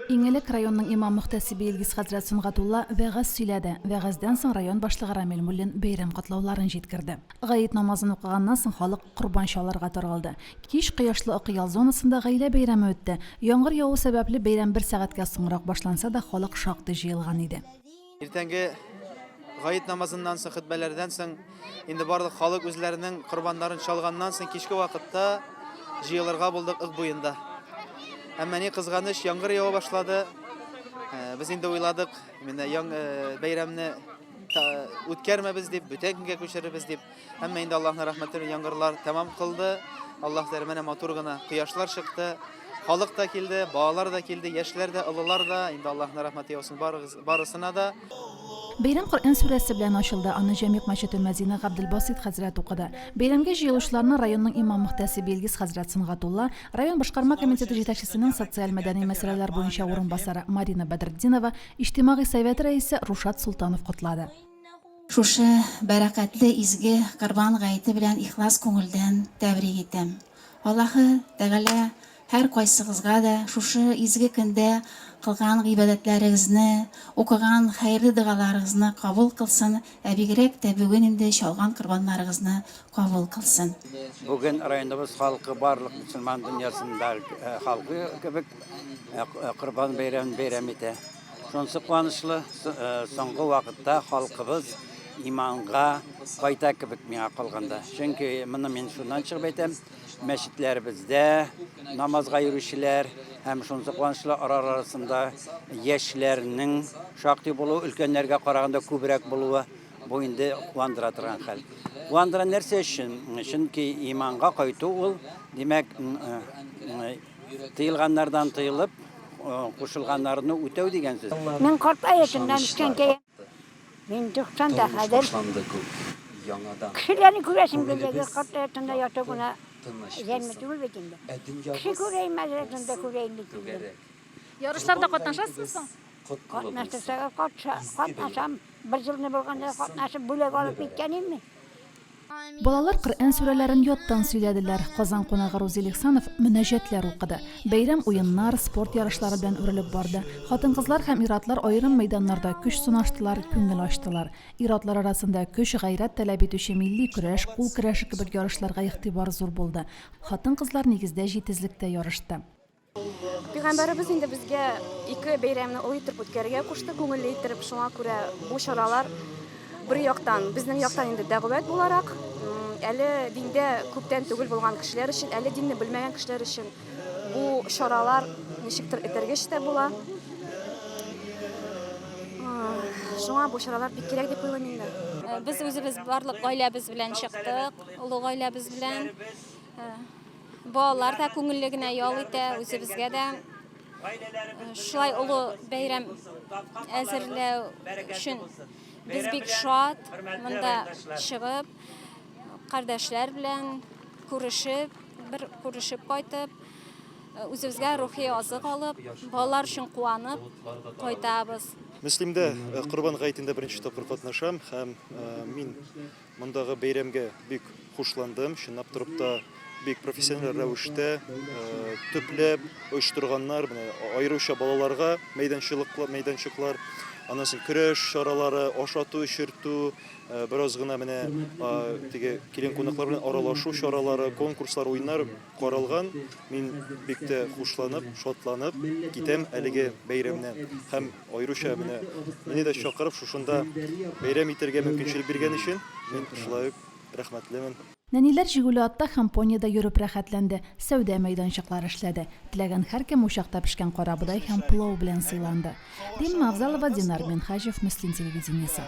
Иң элек районның имам-мөхтәсибе Илгиз хәзрәт Сөнгатулла вәгазь сөйләде. Вәгазьдән соң район башлыгы Рамил Муллин бәйрәм котлауларын җиткерде. Гает намазын укыганнан соң халык корбан чалырга таралды. Кич кояшлы Акъял зонасында гаилә бәйрәме үтте. Яңгыр яву сәбәпле бәйрәм бер сәгатькә соңрак башланса да, халык шактый җыелган иде. Иртәнге гаит намазыннан соң, хөтбәләрдән соң, инде барлык халык үзләренең корбаннарын чалганнан соң, кичке вакытта җыелырга булдык ык буенда. Әмма ни кызганыч, яңгыр ява башлады. Э, без инде уйладык, менә яң э, бәйрәмне үткәрмәбез дип, бүтән көнгә күчерербез дип. Әмма инде Аллаһның рәхмәте белән яңгырлар тәмам кылды. Аллаһ дәр менә матур гына кояшлар чыкты. Халык та килде, балалар да килде, яшьләр дә, олылар да. Инде Аллаһның рәхмәте яусын барыгыз- барысына да. Бәйрәм Коръән сүрәсе белән ачылды. Аны Җәмигъ мәчете мөәзине Габделбасыйт хәзрәт укыды. Бәйрәмгә җыелучыларны районның имам-мөхтәсибе Илгиз хәзрәт Сөнгатулла, район башкарма комитеты җитәкчесенең социаль-мәдәни мәсьәләләр буенча урынбасары Марина Бәдретдинова, иҗтимагый совет рәисе Рушат Солтанов котлады. Шушы бәрәкәтле изге Корбан гаете белән ихлас күңелдән тәбрик итәм. Аллаһы Тәгалә һәркайсыгызга да шушы изге көндә кылган гыйбадәтләрегезне, укыган хәерле догаларыгызны кабул кылсын, ә бигрәк тә бүген инде чалган корбаннарыгызны кабул кылсын. Бүген районыбыз халкы барлык мөселман дөньясында халкы кебек Корбан бәйрәмен бәйрәм итә. Шунсы куанычлы, соңгы вакытта халкыбыз иманга кайта кебек миңа калганда. Чөнки моны мин шуннан чыгып әйтәм, мәчетләребездә намазга йөрүчеләр һәм шунсы куанычлы ара арасында яшьләрнең шактый булуы, өлкәннәргә караганда күбрәк булуы бу инде куандыра торган хәл. Куандыра нәрсә өчен? Чөнки иманга кайту ул, димәк, Тыелганнардан тыелып, кушылганнарны үтәү дигән сүз. Мин карт гаиләсеннән үскәнгә, мин 90 да хәзер. Кешеләрне күрәсем килде, карт гаиләсендә яту гына җәнме түгел бит инде. Кеше күрәйем, мәдрәсәне дә күрәйем бит инде. Ярышларда катнашасызмы соң? Катнашсагыз, катнашам. Бер җылны булганда катнашып, бүләк алып киткән идем мин. Балалар Коръән сүрәләрен яттан сөйләделәр, Казан кунагы Рузил Ихсанов мөнәҗәтләр укыды. Бәйрәм уеннар, спорт ярышлары белән үрелеп барды. Хатын-кызлар һәм ир-атлар аерым мәйданнарда көч сынаштылар, күңел ачтылар. Ир-атлар арасында көч, гайрәт таләп итүче милли көрәш, кул көрәше кебек ярышларга игътибар зур булды. Хатын-кызлар нигездә җитезлектә ярышты. Пәйгамбәребез инде безгә ике бәйрәмне олы итеп үткәрергә кушты, күңелле итеп. Шуңа күрә бу чаралар бер яктан, безнең яктан инде дәгъват буларак, әле диндә күптән түгел булган кешеләр өчен, әле динне белмәгән кешеләр өчен бу чаралар ничектер этәргеч тә була. Шуңа бу чаралар бик кирәк дип уйлыйм инде. Без үзебез барлык гаиләбез белән чыктык, олы гаиләбез белән. Балалар да күңелле генә ял итә, үзебезгә дә шулай олы бәйрәм әзерләү өчен без бик шат монда чыгып, кардәшләр белән күрешеп, бер күрешеп кайтып, үзебезгә рухи азык алып, балалар өчен куанып кайтабыз. Мөслимдә Корбан гаетендә беренче тапкыр катнашам һәм мин Мондагы бәйрәмгә бик хушландым. Чынлап торып та бик профессиональ рәвештә төпләп оештырганнар. Менә аеруча балаларга мәйданчыклар, мәйданчыклар, аннан соң көрәш чаралары, ашату, эчертү, бераз гына менә теге килен кунаклар белән аралашу чаралары, конкурслар, уеннар каралган. Мин бик тә хушланып, шатланып китәм әлеге бәйрәмнән. Һәм Аеруча менә мине дә чакырып шушында бәйрәм итәргә мөмкинчелек биргән өчен мин шулай ук рәхмәтлемен. Нәниләр Жигули атта һәм понида йөреп рәхәтләнде, сәүдә мәйданчыклары эшләде. Теләгән һәркем учакта пешкән карабодай һәм пылау белән сыйланды. Римма Авзалова, Динар Минһаҗев, Мөслим телевидениесе.